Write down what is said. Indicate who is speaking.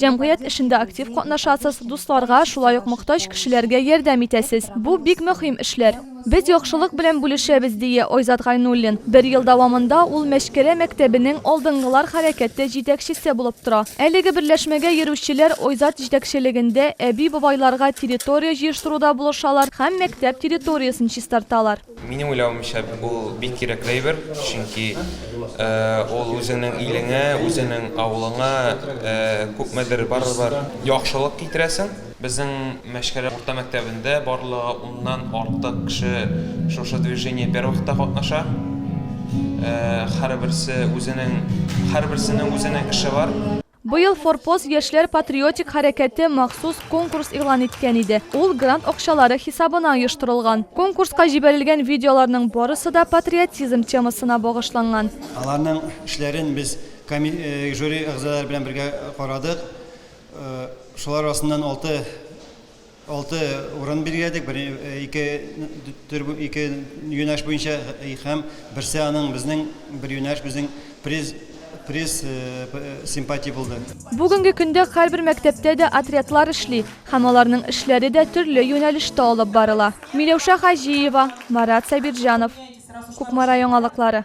Speaker 1: Җәмгыять эшендә актив катнашасыз, дусларга, шулай ук мохтаҗ кешеләргә ярдәм итәсез. Бу, бик мөһим эшләр. Без яхшылык белән бүлешәбез, дие Айзат Гайнуллин. Бер ел дәвамында ул Мәчкәрә мәктәбенең Алдынгылар хәрәкәте җитәкчесе булып тора. Әлеге берләшмәгә йөрүчеләр Айзат җитәкчелегендә әби-бабайларга территория җыештыруда булышалар һәм мәктәп территориясен чистарталар. Минем уйлавымча, бу бик кирәкле әйбер, чөнки ул үзеңнең илеңә, үзеңнең авылыңа күпмедер барыбер яхшылык китерәсең. Безнең Мәчкәрә урта мәктәбендә барлыгы уннан артык кеше шушы движение бервакытта катнаша. Һәрберсе үзенең, һәрберсенең үзенең эше бар. Быел Форпост яшьләр патриотик хәрәкәте махсус конкурс игълан иткән иде. Ул грант акчалары хисабына оештырылган. Конкурска җибәрелгән видеоларның барысы да патриотизм темасына багышланган. Аларның эшләрен без жюри әгъзалары белән бергә карадык. Шулар арасыннан алты Алты урын билгеләдек, бер, ике төр, ике юнәш буенча һәм берсе аның безнең бер юнәш безнең приз приз симпатия булды. Бүгенге көндә һәрбер мәктәптә дә отрядлар эшли һәм аларның эшләре дә төрле юнәлештә алып барыла. Миләүшә Хаҗиева, Марат Сабирҗанов, Кукмара яңалыклары.